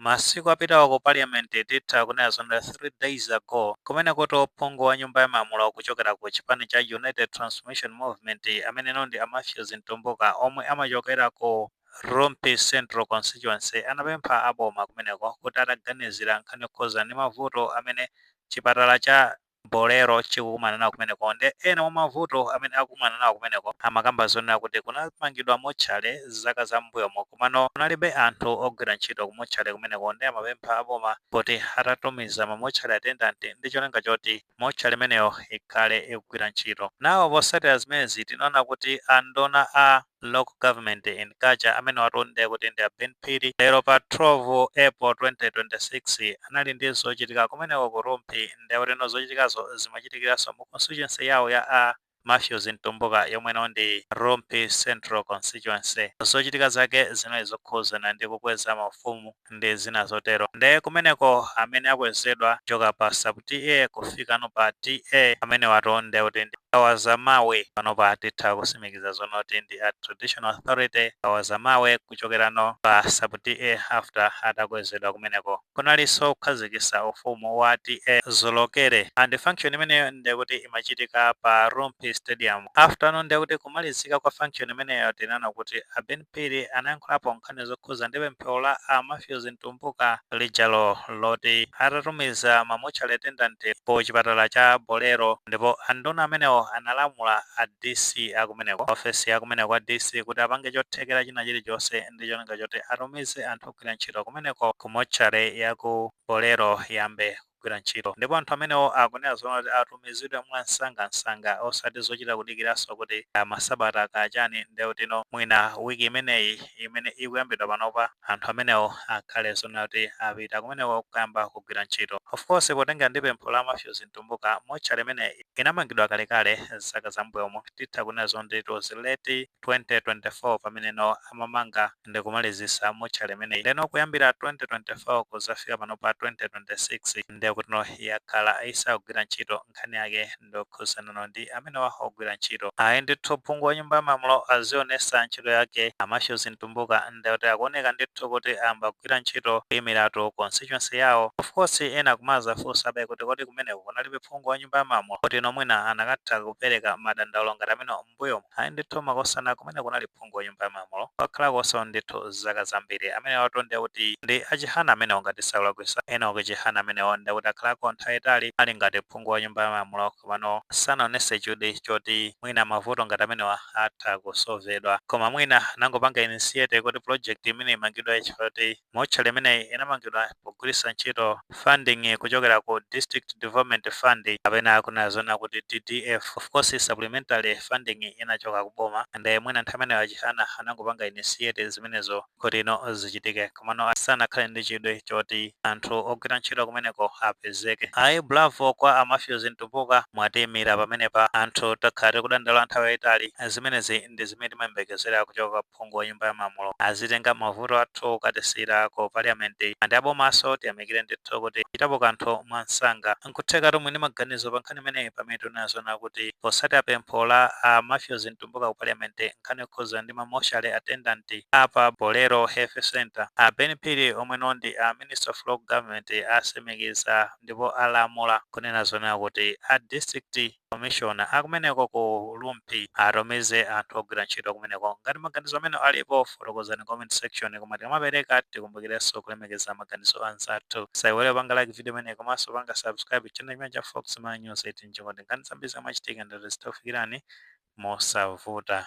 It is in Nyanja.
Masiku apitawa ku parliament titha kunena zoona kuti 3 days ago kumene kuti ophungu wa nyumba ya malamulo kuchokera ku chipani cha United Transformation Movement ameneno ndi a Mathews Mtumbuka omwe amachokera ku Rumphi Central Constituency anapempha a boma kumeneko kuti ataganizira nkhani yokhuza ndi mavuto amene chipatala cha Bolero chikukumana nawo kumeneko nde ena mwa mavuto amene akukumana nawo kumeneko amakamba zonena kuti kunamangidwa motchale zaka za m'mbuyomo komano kunalibe anthu ogwira ntchito ku motchale kumeneko nde amapempha a boma kuti atatumiza ma motchale attendant ndi cholinga choti motchale imeneyo ikhale ikugwira ntchito nawo. Potsatira zimenezi tinaona kuti a nduna a. local government and Culture amenewatu ndiye kuti ndi a Ben Phiri lero pa 12 April 2026 anali ndi zochitika kumeneko ku Rumphi ndiye kuti no zochitikazo zimachitikiranso mu constituency yawo ya a Mathews Mtumbuka yomwe no ndi Rumphi Central Constituency. Zochitika zake zinali zokhuzana ndi kukweza mafumu ndi zina zotero nde kumeneko amene akwezedwa kuchoka pa sub TA kufikano pa TA amenewatu nde kuti ndi kawazamawe panopa titha kusimikiza zonoti ndi a traditional authority kawazamawe kuchokerano pa sub TA after atakwezedwa kumeneko kunalinso kukhazikitsa ufumu wa TA Zolokere and function imeneyo nde kuti imachitika pa Rumphi stadium afterno nde kuti kumalizika kwa function imeneyo tinaona kuti a Ben Phiri anayankhulapo nkhani zokhuza ndi pempho la a Mathews Mtumbuka lijalo loti atatumiza ma mortuary attendant pa chipatala cha Bolero ndipo a nduna amenewo analamula a DC akumeneko, ofesi ya kumeneko kwa DC kuti apange chothekera china chilichonse ndi cholinga choti atumize anthu ogwira ntchito kumeneko ku mortuary ya ku Bolero iyambe kugwira ntchito ndipo anthu amenewo akunena zonena kuti atumizidwe mwansangansanga osati zochita kudikiranso kuti kaya masabata kaya chani nde kuti no mwina week imeneyi imene ikuyambidwa panopa anthu amenewo akhale zonena kuti apita kumeneko kuyamba kugwira ntchito. Of course potengera ndi pempho la Mathews Mtumbuka, mortuary imeneyi inamangidwa kalekale zaka za mmbuyomu titha kunena zonoti it was late 2024 pamene no amamanga. ndikumalizisa motchale imeneyi ndeno kuyambira 2024 kuzafika panopa 2026 ndekutino yakhala isagwira ntchito nkhani yake ndiyokhuzanano ndi amenewa ogwira ntchito ayi ndithu phungu wa nyumba ya malamulo azionesa ntchito yake a Mathews Mtumbuka ndekuti akuoneka ndithu kuti ayamba kugwira ntchito kuimiratu constituency yawo of course ena kumazafunsabe kuti kodi kumeneko kunalibe phungu wa nyumba ya malamulo kutino mwina anakatha kupereka madandaulo ngati amene m'mbuyomu. Ayi ndithu makosana kumene kunali phungu wa nyumba ya malamulo wakhalakonso ndithu zaka zambiri amenewatu ndiye kuti ndi a Chihana amenewo ngati sindikulakwitsa. Enock Chihana amenewo ndiye kuti akhalako nthawi yayitali ali ngati phungu wa nyumba ya malamulo komano sanaonese chidwi choti mwina mavuto ngati amenewa atha kusovedwa koma mwina anangopanga initiate kuti project imeneyi imangidwe chifukwa choti Motchale imeneyi inamangidwa pogwiritsa ntchito funding kuchokera ku District Development Fund kapena kunena zoona kuti DDF, of course supplementary funding inachoka ku boma and mwina nthawi imeneyo a Chihana anangopanga initiate zimenezo kuti ino zichitike komano asanakhale ndi chidwi choti anthu ogwira ntchito kumeneko apezeke. Ayi bravo kwa a Mathews Mtumbuka mwatiimira pamenepa. Anthu takhala tikudandaula nthawi yaitali. Zimenezi ndi zimene timayembekezera kuchoka kwa. phungu wa nyumba ya malamulo azitenga mavuto athu kukatisiyira ku parliament ndi abomaso tiyamikire ndithu kuti achitapo kanthu mwamsanga. Nkuthekatu muli ndi maganizo pa nkhani imeneyi pamene tinena zoona kuti potsatira pempho la a Mathews Mtumbuka ku parliament nkhani yokhudzana ndi ma mortuary attendant a pa Bolero Health Centre, a Ben Phiri omwe no ndi a minister of local government atsimikiza ndipo alamula kunena zoona kuti a district commissioner akumeneko ku Rumphi atumize anthu ogwira ntchito kumeneko. Ngati maganizo amene alipo, fotokozani comment section. Koma tikamapereka, tikumbukirenso kulemekeza maganizo anzathu. Musaiwale kupanga like video imeneyi komanso kupanga subscribe channel chimene cha Fox Malawi News 18 ncholinga choti nkhani zambiri zomwe zikumachitika ndi zomwe zitakufikirani mosavuta.